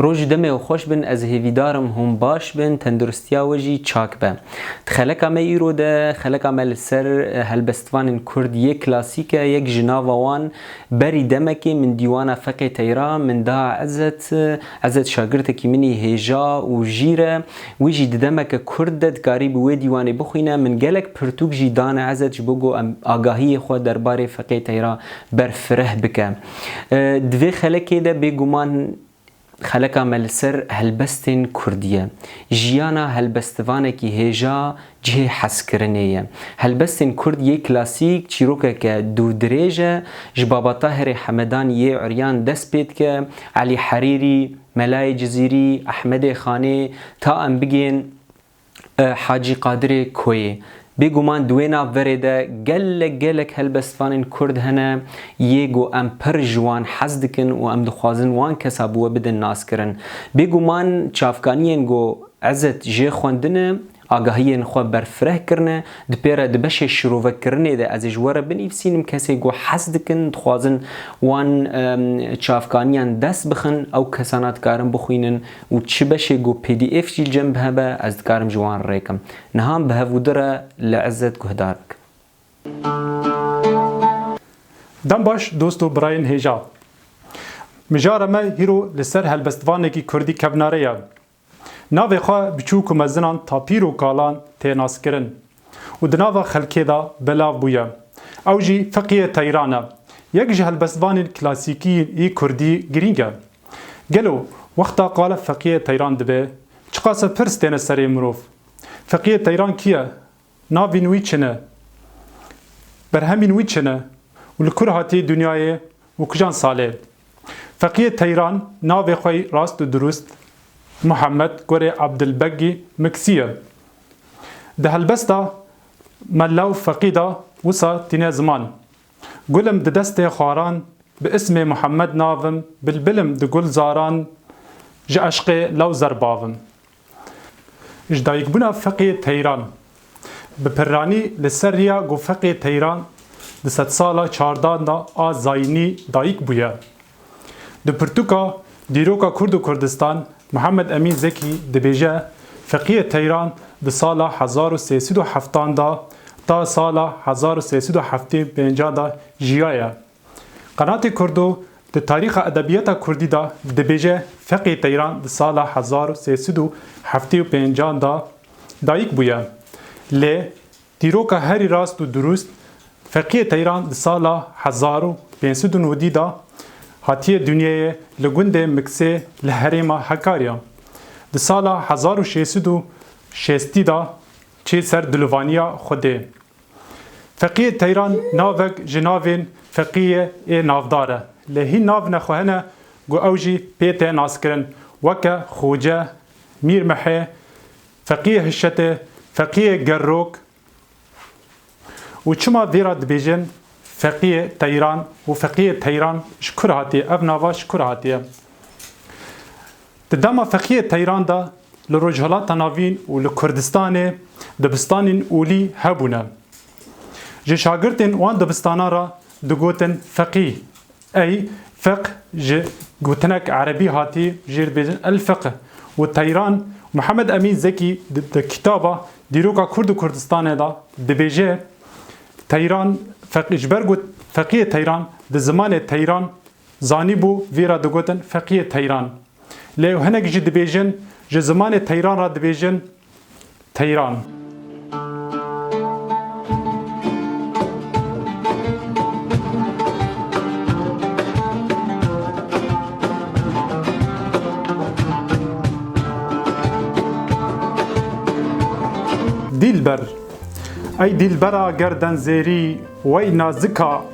Roj demê û xweş bin ez hêvîdar im hûn baş bin tenduristiya we jî çak be. Di xeleka me îro de xeleka me li ser eh, helbestvanên Kurd yek klasîk e yek ji nava wan berî demekê min dîwana feqê teyra min da ezet eh, Ezet şagirtekî min î hêja û jîr e. Wî jî di demeke kurt de dikarî bi wê dîwanê bixwîne. Min gelek pirtûk jî dane Ezet ji bo ku em agahiyê xwe derbarê feqê teyra berfireh bike. Di vê xelekê de bêguman xeleka me li ser helbestên kurdî ye. Jiyana helbestivanekî hêja Cihê hezkirinê ye. Helbestên Kurd yê klasîk çîrokeke dûrdirêj e, ji babata herê Hemedanî yê uryan dest pê dike, Elî Herîrî, Melayê Cizîrî, Ehmedê Xanê, ta em bigên Hacî Qadirê Koyê. Bêguman di wê nav verê de gelek gelek helbestvanên Kurd hene yê ku em pir ji wan hez dikin û em dixwazin wan kesa bi we bidin naskirin. Bêguman çavkaniyên ku Ezet jê xwendine, Agahiyên xwe berfireh kirine, di pê re di beşê şirovekirinê de ez ê ji we re binivîsînim kesê ku hez dikin dixwazin wan çavkaniyan dest bixin ew kesana dikarin bixwînin û çi beşê ku pdf jî li cem bi hebe ez dikarim ji wan rêkim. Niha bi hev û di re li Izzet guhdar bikim. Dem baş dost û birayên hêja. Mijara me hîro li ser helbestvanekî kurdî kevnare ye. Navê xwe biçûk û mezinan tapîr û kalan tê naskirin û di nava xelkê de belav bûye. Ew jî Fiqiyê Teyran e, yek ji helbestvanên klasîkî yî kurdî girîng e. Gelo wexta qala Fiqiyê Teyran dibe, çiqase pirs têne serê mirov. Fiqiyê Teyran kî ye? Navîn wî çi ne? Berhemîn wî çi ne? Û li kur hatiye dinyayê û kijan salê? Feqiyê Teyran navê xwe yî rast û dirûst Muhammed Gorê Abdilbeggî Miksî ye. Di helbesta mella û feqî de wisa tîne ziman. Gulim di destê xwaran bi îsmê Muhammed navim bilbilim di gulzaran ji eşqê lewzer bavim. Ji dayikbûna Feqê Teyran Bi pirranî li ser riya ku Feqê Teyran di sedsala çardan de a Zaynî dayik bûye. Di pirtûka Dîroka Kurd û Kurdistan Muhammed Emîn Zekî dibêje Feqiyê Teyran di sala hezar û sê sed û heftan de ta sala hezar û sê sed û heftê û pêncan de jiyaye. Qenatê Kurdo di tarîxa edebiyata Kurdî de dibêje Feqê Teyran di sala hezar û sê sed û heftê û pêncan de dayik bûye. Lê dîroka herî rast û durust, Feqê Teyran di sala hezar û pênc sed û nûdî de hatiye dinyeyê li gundê Miksê li herêma Hekarya. Di sala hezar û şêst sed û şêstî de çê ser dulivaniya Xwedê. Feqiyê Teyran navek ji navên feqiyê ê navdar e. Lê hîn nav ne xwe hene ku ew jî pê tê naskirin weke Xoce, Mîr Mihê, Feqiyê Hişetê, Feqiyê Gerrok û çima vê re dibêjin Feqiyê Teyran û Feqiyê Teyran ji kur hatiye? Ev nava ji kur hatiye? Di dema feqiyê teyran de li Rojhilata Navîn û li Kurdistanê dibistanên olî hebûne. Ji şagirtên wan dibistanan re digotin feqî. Ey feq ji gotinek erebî hatî jê dibêjin el-feq û teyran Muhammed Emîn Zekî di kitaba Dîroka Kurd û Kurdistanê de dibêje teyran feqî ji ber ku feqiyê teyran di zimanê teyran Zanîbû vî re digotin feqiyê teyran. Lê ew hinek jî dibêjin ji zimanê teyran re dibêjin teyran. Dîlber, Ey dîlbera gerden zêrî, wey nazika.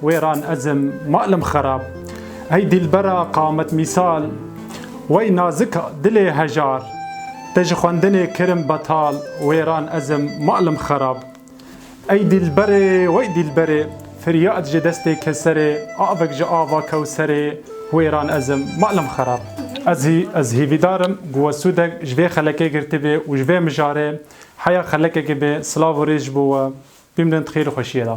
Wêran ezim malım xerab. Ey dîlbera qamet mîsal. Wey nazik dilê hejar. Te ji xwendinê kirim betal. Wêran ezim malım xerab. Ey dîlberê wey dîlberê. Firyad ji destê keserê. Avik ji ava kewserê. Wêran ezim malım xerab. Ez hî ez hîvîdarim ku we sûdek ji vê xelekê girtibê û ji vê mijarê heya xelekekê bê silav û rêz ji bo we. Bimrint xêr û xweşiyê de.